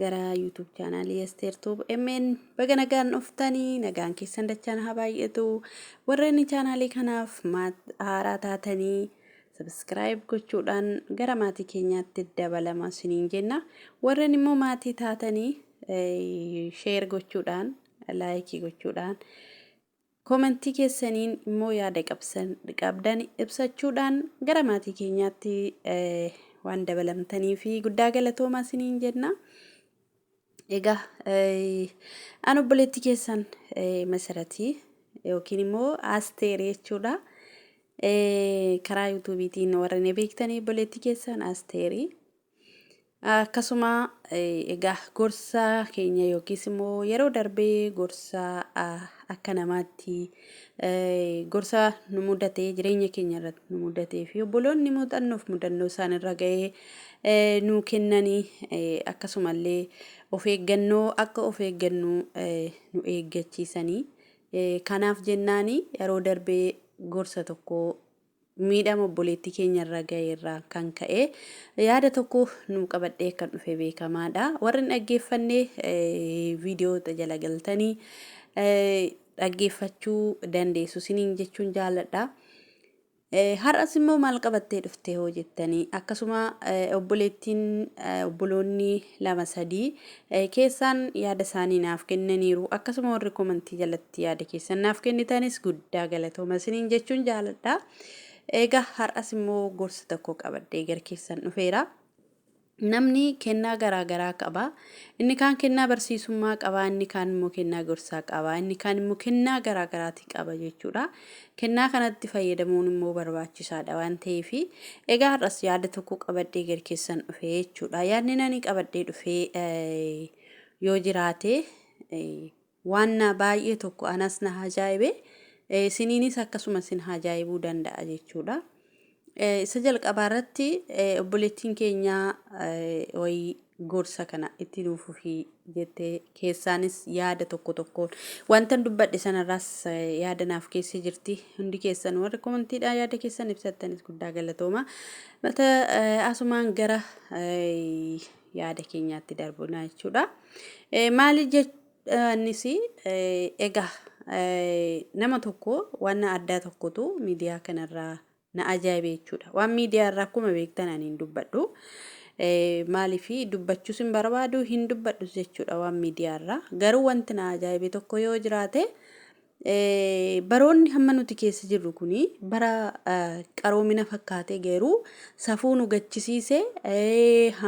gara YouTube chaanaalii Asteer Tuub MN baga nagaan dhuftanii nagaan keessan dachaan haa baay'atu warreen chaanaalii kanaaf maat haaraa taatanii sabiskiraayib gochuudhaan gara maatii keenyaatti dabalama isiniin jenna warreen immoo maatii taatanii sheer gochuudhaan laayikii gochuudhaan Comment keessaniin immoo yaada qabdan ibsachuudhaan gara maatii keenyaatti waan dabalamtanii fi guddaa galatoomaa isiniin jenna. Egaa an obboleetti keessan masaratii yookiin immoo aasteeri jechuudha. Karaa yuutuubiitiin warra na beektanii obboleetti keessan aasteeri. Akkasuma egaa gorsa keenya yookiis immoo yeroo darbee gorsa akka namaatti gorsa nu mudatee jireenya keenya irratti nu mudatee fi obboloonni muuxannoof mudannoo isaan irra ga'ee nuu kennanii akkasumallee of eeggannoo akka of eeggannu nu eeggachiisanii kanaaf jennaanii yeroo darbee gorsa tokko miidhama obboleettii keenya irra ga'e irraan kan ka'e yaada tokko nuu qabadhee kan dhufe beekamaadha. Warri hin dhaggeeffanne viidiyoota jala galtanii dhaggeeffachuu dandeessu siniin jechuun jaalladha. Har'as immoo maal qabattee dhufte hoo jettanii akkasuma obboleettiin obboloonni lama sadii keessaan yaada isaanii naaf kennaniiru akkasuma warri komantii jalatti Itti yaada keessan naaf kennitanis guddaa galatooma isiniin jechuun jaaladha. Egaa har'as immoo gorsa tokko qabadhee gara keessan dhufeera. Namni kennaa garaa garaa qaba. Inni kaan kennaa barsiisummaa qaba, inni kaan immoo kennaa gorsaa qaba, inni kaan immoo kennaa garaa garaati qaba jechuudha. Kennaa kanatti fayyadamuun immoo barbaachisaadha waan ta'eef. Egaa har'as yaada tokko qabadhee gara keessan dhufee jechuudha. Yaadni ani qabadhee dhufee eh, yoo jiraate eh, Waan naa baay'ee tokko anas na haajaa'ibe, isiniinis akkasuma isin haajaa'ibuu danda'a jechuudha. Isa jalqabaa irratti obboleettiin keenya wayii gorsa kana itti nuuf fufii jette keessaanis yaada tokko tokkoon wantan dubbadhe sanarraas yaada naaf keessa jirti hundi keessan warri komantiidhaan yaada keessan ibsattanis guddaa galatooma mata asumaan gara yaada keenyaatti darbina jechuudha. Maali jechanis egaa nama tokko waan addaa tokkotu miidiyaa kanarraa na ajaa'ibe jechuudha. Waan miidiyaa irraa akkuma beektan ani hin dubbadhu. Maaliif dubbachuus hin barbaadu hin dubbadhus jechuudha waan miidiyaa irraa. Garuu wanti na ajaa'ibe tokko yoo jiraate Baroonni hamma nuti keessa jirru kun bara qaroomina fakkaatee garuu safuu nu gachisiise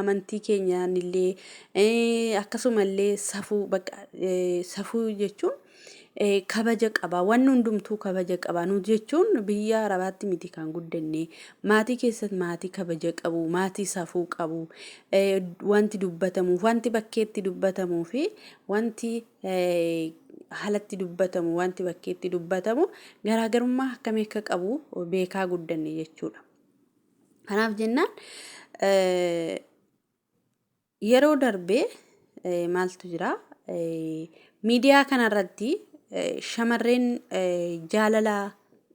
amantii keenyaan illee akkasuma illee safuu bakka safuu jechuun kabaja qaba wanni hundumtuu kabaja qaba nu jechuun biyya arabaatti miti kan guddanne maatii keessatti maatii kabaja qabu maatii safuu qabu wanti dubbatamuuf wanti bakkeetti dubbatamuu fi wanti haalatti dubbatamu wanti bakkeetti dubbatamu garaagarummaa akkamii akka qabu beekaa guddanne jechuudha. Kanaaf jennaan yeroo darbe maaltu jira miidiyaa kanarratti shamarreen jaalala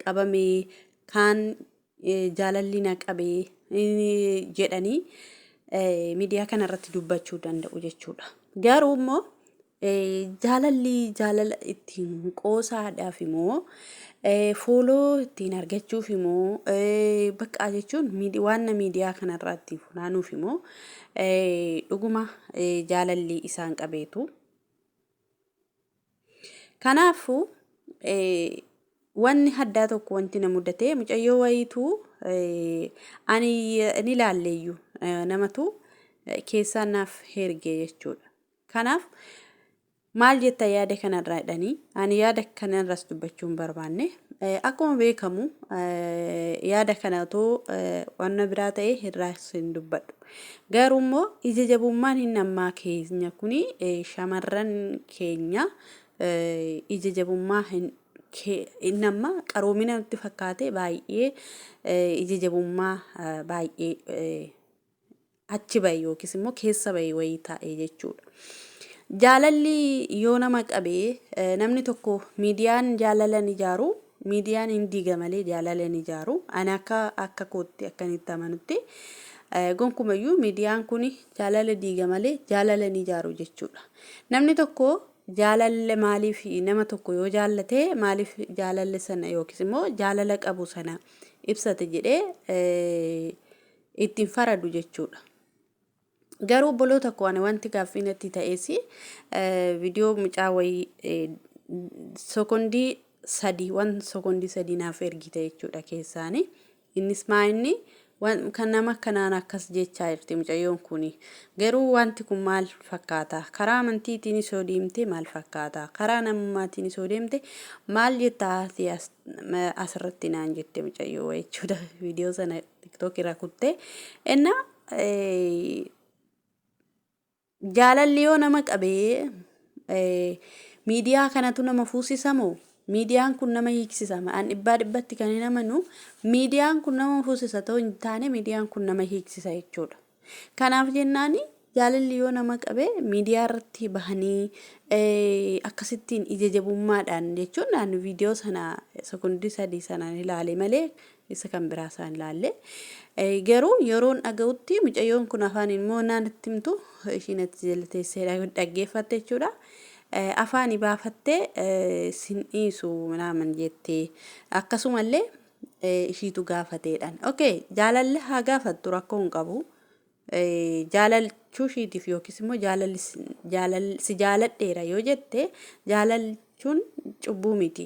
qabamee kaan jaalalli na qabe jedhanii miidiyaa kana irratti dubbachuu danda'u jechuudha. Garuu immoo jaalalli jaalala ittiin qoosaadhaaf immoo fooloo ittiin argachuuf immoo baqqaa jechuun waan miidiyaa kana irratti funaanuuf immoo dhuguma jaalalli isaan qabeetu. Kanaafuu wanni haddaa tokko wanti na mudatee mucayyoo wayiitu ani ni laalleeyyu namatu keessaa naaf herge jechuudha. Kanaaf maal jetta yaada kanarraa jedhanii ani yaada kanarras dubbachuu hin barbaanne akkuma beekamu yaada kana otoo wanna biraa ta'e irraas hin dubbadhu. Garuu immoo ija jabummaan hin ammaa keenya kun shamarran keenya ija jabummaa hin inni amma qaroomina nutti fakkaate baay'ee ija jabummaa baay'ee achi bahe yookiis immoo keessa bahe wayii taa'e jechuudha. Jaalalli yoo nama qabee namni tokko miidiyaan jaalalan ijaaru Miidiyaan hin diiga malee jaalala hin ijaaru. Ani akka akka kootti akkan itti amanutti gonkumayyuu miidiyaan kun jaalala diiga malee jaalala hin ijaaru jechuudha. Namni tokko jaalalle maaliif nama tokko yoo jaallate maaliif jaalalle sana yookiis immoo jaalala qabu sana ibsate jedhee ittiin faradu jechuudha. Garuu obboloota koo ani wanti gaaffii natti ta'es viidiyoo mucaa wayii sekondii sadii waan sekondii sadii naaf ergite jechuudha keessaani. Innis maa inni kan nama kanaan akkas jechaa jirti mucayyoon kun garuu wanti kun maal fakkaata karaa amantiitiin isoo deemte maal fakkaata karaa namummaatiin isoo deemte maal jettaa ati asirratti naan jette mucayyoo jechuudha viidiyoo sana tiktookirraa kuttee ennaa Eh, jaalalli yoo nama qabe eh, miidiyaa kanatu nama fuusisa moo miidiyaan kun nama hiiksisa an dhibbaa dhibbatti kan hin amanu miidiyaan kun nama fuusisa ta'uu hin taane miidiyaan kun nama hiiksisa jechuudha kanaaf jennaani jaalalli yoo nama qabe miidiyaa irratti bahanii eh, akkasittiin ija jabummaadhaan jechuun naan viidiyoo sana sekondii sadii sanaan ilaale malee isa kan biraa isaan ilaalle. Garuu yeroon dhaga'utti mucayyoon kun afaan immoo naan itti himtu ishiin achi jala teessee dhaggeeffatte jechuudha. Afaani baafattee sin dhiisu minaaman jettee akkasumallee ishiitu gaafateedhaan. Okee jaalalli haa gaafattu rakkoo hin qabu. jaalalchuu ishiitiif yookiis immoo jaalalli si- jaalal- si jaaladheera yoo jette jaalalchuun cubbuu miti.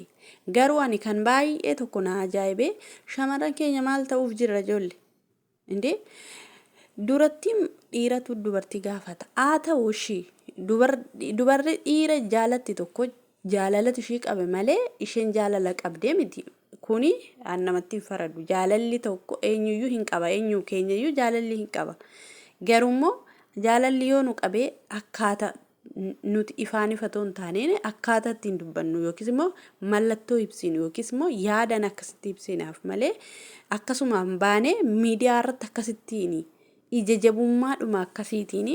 Garuu ani kan baay'ee tokko na ajaa'ibe shamarran keenya maal ta'uuf jirra ijoollee? Indee durattiin dhiiratu dubartii gaafata. Haa ta'u ishii dubar- dubarri dhiira jaalatti tokko Jaalalatu ishii qabe malee isheen jaalala qabdee miti. Kuni an namatti hin faradu. Jaalalli tokko eenyuyyuu hin qaba. Eenyu keenyayyuu jaalalli hin qaba. Garuummoo jaalalli yoo nu qabee akkaata n- nuti ifaan ifa otoo hin taaneen akkaata ittiin dubbannu yookiis immoo mallattoo ibsinu yookiis immoo yaadan akkasitti ibsinaaf malee akkasumaan baanee miidiyaa irratti akkasittiin ija jabummaadhuma akkasiitiin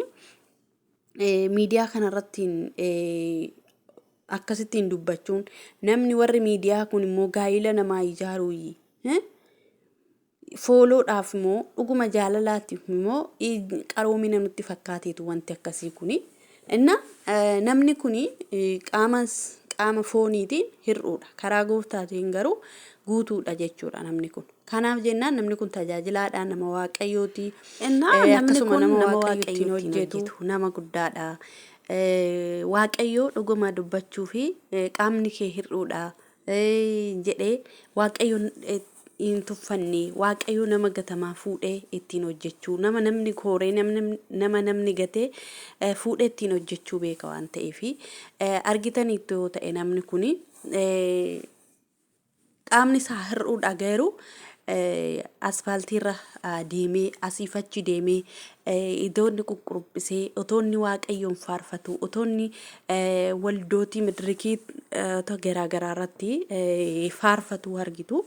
miidiyaa kanarrattiin akkasittiin dubbachuun namni warri miidiyaa kun immoo gaa'ila namaa ijaaruuyyi. Fooloodhaaf immoo dhuguma jaalalaatiif immoo qaroomina nutti fakkaateetu wanti akkasii kuni. Inna namni kuni qaama qaama fooniitiin hir'uudha. Karaa gooftaatiin garuu guutuudha jechuudha namni kun. Kanaaf jennaan namni kun tajaajilaadha, nama Waaqayyooti. Innaa Eh, namni akkasuma kun nama nama Waaqayyo ittiin Waaqayyo ittiin hojjetu hojjetu. nama guddaadha. Eh, Waaqayyo dhuguma dubbachuu fi eh, qaamni kee hir'uudha eh, jedhee Waaqayyo eh, hin tuffanne. Waaqayyo nama gatamaa fuudhee ittiin hojjechuu, nama namni kooree, namni, nama namni gatee eh, fuudhee ittiin hojjechuu beeka waan ta'eef. Eh, argitaniittu yoo ta'e namni kuni eh, Qaamni isaa hir'uu dha garuu asfaaltiirra deemee asiif achi deemee idoonni quqquruphsee otoonni waaqayyoon faarfatu otoonni waldootii madirikii garaa garaa irratti faarfatu argitu.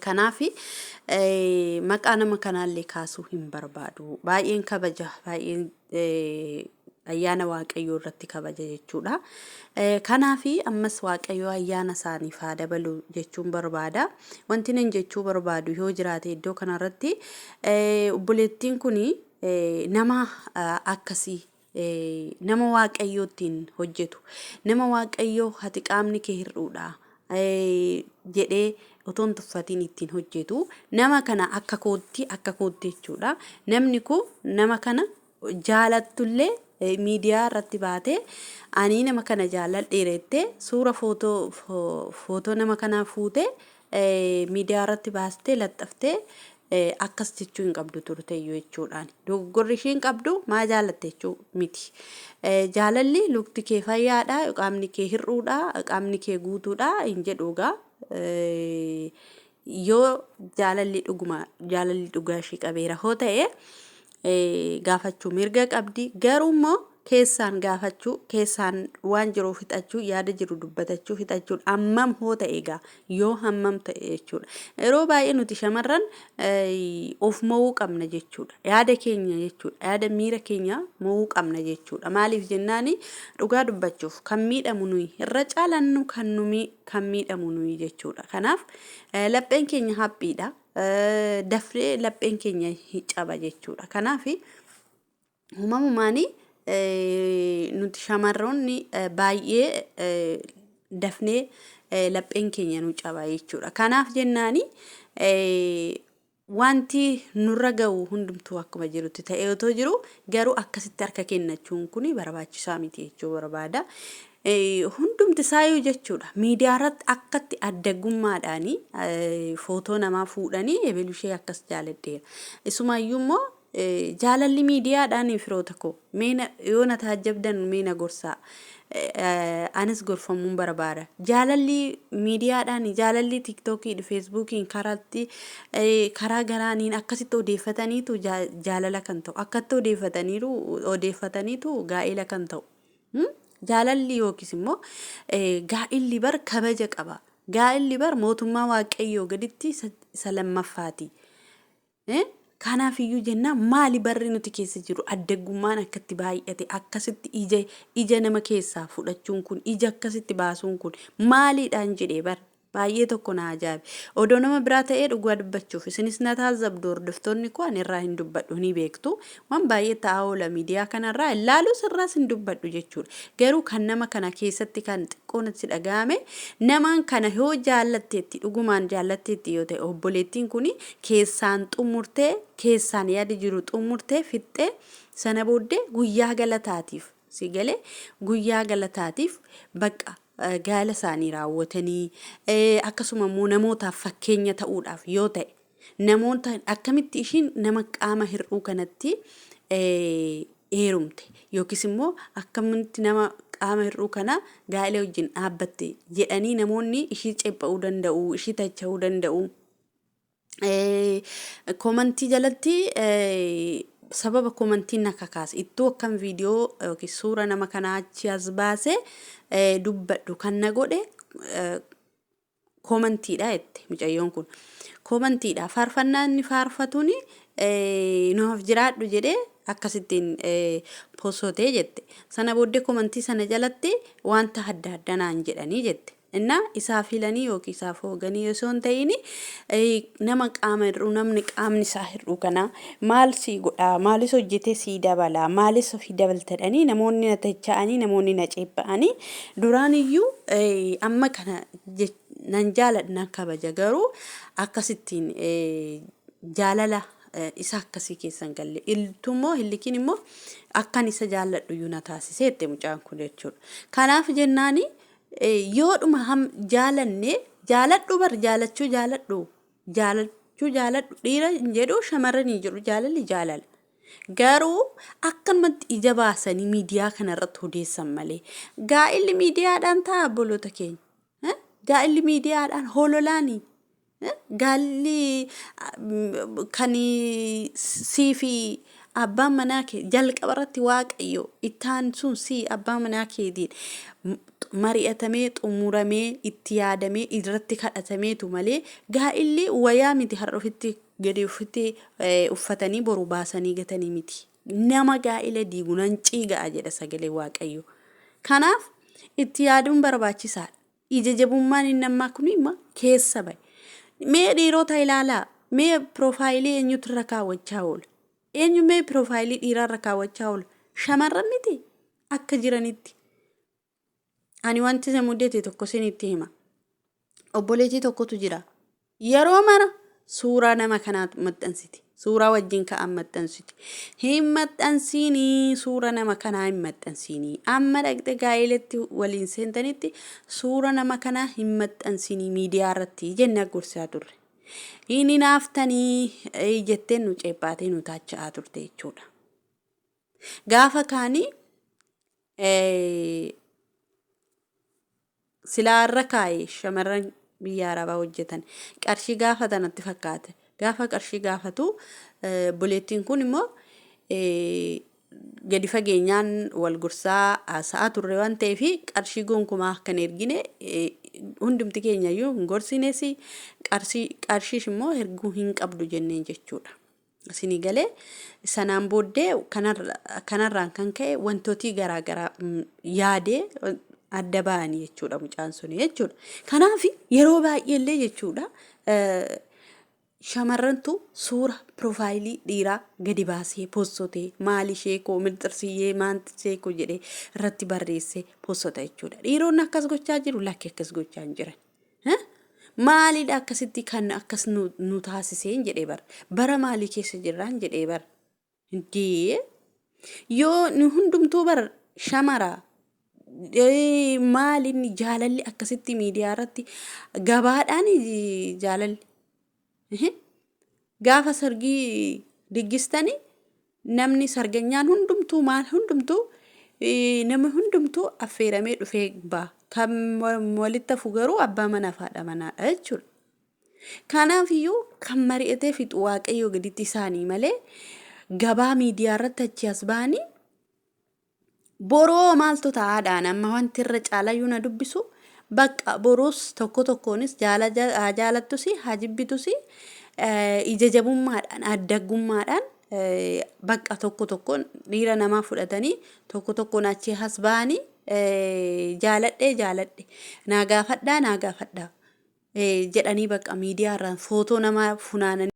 Kanaaf maqaa nama kanaallee kaasuu hin barbaadu. Baay'een kabaja baay'een ayyaana waaqayyoo irratti kabaja jechuudha. Kanaaf ammas waaqayyoo ayyaana isaaniif haa dabalu jechuun barbaada. Wanti nan jechuu barbaadu yoo jiraate iddoo kanarratti obboleettiin kun nama akkasii nama waaqayyoo ittiin hojjetu nama waaqayyoo hati qaamni kee hir'uudha. jedhee otoo hin tuffatiin ittiin hojjetu. Nama kana akka kootti akka kootti jechuudha. Namni kun nama kana jaalattullee eh, miidiyaa irratti baatee ani nama kana jaalladheera jettee suura footoo fo- footoo nama kanaa fuutee eh, miidiyaa irratti baastee laxxaftee akkas jechuu hin qabdu turteyyuu jechuudhaan dogoggorri ishiin qabdu maa jaalatte jechuu miti. Jaalalli lukti kee fayyaadha qaamni kee hir'uudha qaamni kee guutuudha hin jedhu egaa yoo jaalalli dhuguma jaalalli dhugaa ishii qabeera hoo ta'e gaafachuu mirga qabdi garuu immoo keessaan gaafachuu keessaan waan jiru fixachuu yaada jiru dubbatachuu fixachuun hammam hoo ta'e egaa yoo hammam ta'e jechuudha yeroo baay'ee nuti shamarran of mo'uu qabna jechuudha yaada keenya jechuudha yaada miira keenya mo'uu qabna jechuudha maaliif jennaani dhugaa dubbachuuf kan miidhamu nuyi irra caalannu kan numi kan miidhamu nuyi jechuudha kanaaf lapheen keenya haphiidha dafnee lapheen keenya hin caba jechuudha. Kanaaf uumamumaan nuti shamarroonni baay'ee dafnee lapheen keenya nu caba jechuudha. Kanaaf jennaani wanti nurra ga'u hundumtuu akkuma jirutti ta'ee otoo jiru garuu akkasitti harka kennachuun kun barbaachisaa miti jechuu barbaada. Hundumti isaayyuu jechuudha miidiyaa irratti akkatti addaggummaadhaan footoo namaa fuudhanii ebelu ishee akkas jaaladheera. Isumaayyuu immoo jaalalli miidiyaadhaan firoota koo meena yoo na taajjabdan meena gorsaa anis gorfamuun barbaada. Jaalalli miidiyaadhaan jaalalli tiiktookiin feesbuukiin karaatti karaa garaaniin akkasitti odeeffataniitu jaalala kan ta'u akkatti odeeffataniiru odeeffataniitu gaa'ela kan ta'u. Jaalalli yookiis immoo gaa'illi bar kabaja qaba. Gaa'illi bar mootummaa waaqayyoo gaditti isa lammaffaati. Kanaaf iyyuu jennaan maali barri nuti keessa jiru addaggummaan akkatti baay'ate akkasitti ija ija nama keessaa fudhachuun kun ija akkasitti baasuun kun maaliidhaan jedhee bar Baay'ee tokko na ajaa'ibe. Odoo nama biraa ta'ee dhugaa dubbachuuf isinis na taazzabdu hordoftoonni koo ani irraa hin dubbadhu ni beektu. Waan baay'ee ta'aa oola miidiyaa kanarraa hin laalus irraas hin dubbadhu jechuudha. Garuu kan nama kana keessatti kan xiqqoo natti dhaga'ame namaan kana yoo jaallatteetti dhugumaan jaallatteetti yoo ta'e obboleettiin kuni keessaan xumurtee keessaan yaada jiru xumurtee fixxee sana booddee guyyaa galataatiif si galee guyyaa galataatiif baqqa gaa'ela isaanii raawwatanii, akkasuma immoo namootaaf fakkeenya ta'uudhaaf yoo ta'e, namoota akkamitti ishiin nama qaama hir'uu kanatti heerumte yookiis immoo akkamitti nama qaama hir'uu kana gaa'ela wajjin dhaabbatte jedhanii namoonni ishii ceepha'uu danda'u, ishii tacha'uu danda'u. Komantii jalatti sababa komantiin na kakaase ittuu akkan viidiyoo yookiin suura nama kanaa achi as baase dubbadhu kan na godhe komantiidha jette mucayyoon kun. Komantiidha faarfannaa inni faarfatuun nuuf jiraadhu jedhee akkasittiin posotee jette. Sana booddee komantii sana jalatti wanta adda addaa naan jedhanii jette. Inna isaaf hilanii yookiin isaaf hooganii osoo hin ta'iin nama qaama hir'uu namni qaamni isaa hir'uu kana maal sii godhaa maalis hojjetee sii dabalaa maalis ofii dabaltadhanii namoonni na tacha'anii namoonni na ceepha'anii duraan iyyuu amma kana nan jaaladha nan kabaja garuu akkasittiin jaalala isa akkasii keessan galle iltu immoo hillikiin immoo akkan isa jaalladhu iyyuu na taasisee itti mucaan kun jechuudha kanaaf jennaanii. yoodhuma ham jaalanne jaaladhu bar jaalachuu jaaladhu jaalachuu jaaladhu dhiira hin jedhu shamarran hin jedhu jaalalli jaalala. Garuu akkanumatti ija baasanii miidiyaa kanarratti odeessan malee gaa'illi miidiyaadhaan ta'a obboloota keenya. Gaa'illi miidiyaadhaan hololaanii Gaalli kan sii fi abbaan manaa kee jalqaba irratti waaqayyo itti aansuun sii abbaa manaa keetiin mari'atamee xumuramee itti yaadamee irratti kadhatameetu malee gaa'illi wayaa miti har'a ofitti gadi ofitti uffatanii boru baasanii gatanii miti. Nama gaa'ila diigu nan ciiga'a jedha sagalee waaqayyo. Kanaaf itti yaaduun barbaachisaadha. Ija jabummaan inni ammaa kun imma keessa ba'e. Mee dhiirota ilaalaa, mee piroofaayilii eenyutu irra kaawwachaa oola? Eenyu mee piroofaayilii dhiiraa irra kaawwachaa oola? Shamarran miti akka jiranitti. Ani wanti isa mudate tokko isinitti hima. Obboleettii tokkotu jira. Yeroo mara suuraa nama kanaa maxxansiti. Suuraa wajjin ka'an maxxansiti. Hin maxxansiinii suura nama kanaa hin maxxansiinii. Amma dhaqxe gaa'elatti waliin seentanitti suura nama kanaa hin maxxansiinii miidiyaa irratti jennee gorsaa turre. Hin hinaaftanii eh, jettee nu ceephaatee nu taacha'aa turte jechuudha. Gaafa kaanii eh, Silaa irra kaa'i shamarran biyya arabaa hojjetan qarshii gaafata natti fakkaate gaafa qarshii gaafatu obboleettiin kun immoo gadi fageenyaan wal gorsaa haasa'aa turre waan ta'eef qarshii gonkumaa akka hin ergine hundumti keenya iyyuu hin gorsines qarshiis immoo erguu hin qabdu jenneen jechuudha. Isinii galee sanaan booddee kanarraan kan ka'e wantootii garaa garaa yaadee adda ba'anii jechuudha mucaan suni jechuudha. Kanaaf yeroo baay'ee illee jechuudha shamarrantu suura piroofaayilii dhiiraa gadi baasee poostotee maali ishee koo milxirsiyyee maanti ishee koo jedhee irratti barreessee poostota jechuudha. Dhiironni akkas gochaa jiru lakki akkas gochaa hin jiran. Maalidha akkasitti kan akkas nu taasiseen jedhee bar. Bara maalii keessa jirraan jedhee bar. Dee yoo nu hundumtuu bar shamara maalinni jaalalli akkasitti miidiyaa irratti gabaadhaan jaalalli. Ehe. Gaafa sargii diggistani namni sarganyaan hundumtuu maal hundumtuu eh, namni hundumtuu affeeramee dhufee ba'a. Kan wal- walitti hafu garuu abbaa manaa fi haadha manaadha jechuudha. Kanaaf iyyuu kan mari'atee fixu waaqayyoo gaditti isaanii malee gabaa miidiyaa irratti achi as ba'anii Boroo maaltu ta'aadhaan amma wanti irra caalayyuu na dubbisu bakka boruus tokko tokkoonis haa jaalattus haa jibbitus ija jabummaadhaan addaggummaadhaan bakka tokko tokkoon dhiira namaa fudhatanii tokko tokkoon achii has ba'anii jaaladhee jaaladhe naa gaafadhaa naa gaafadhaa jedhanii bakka miidiyaarraan footoo namaa funaananii.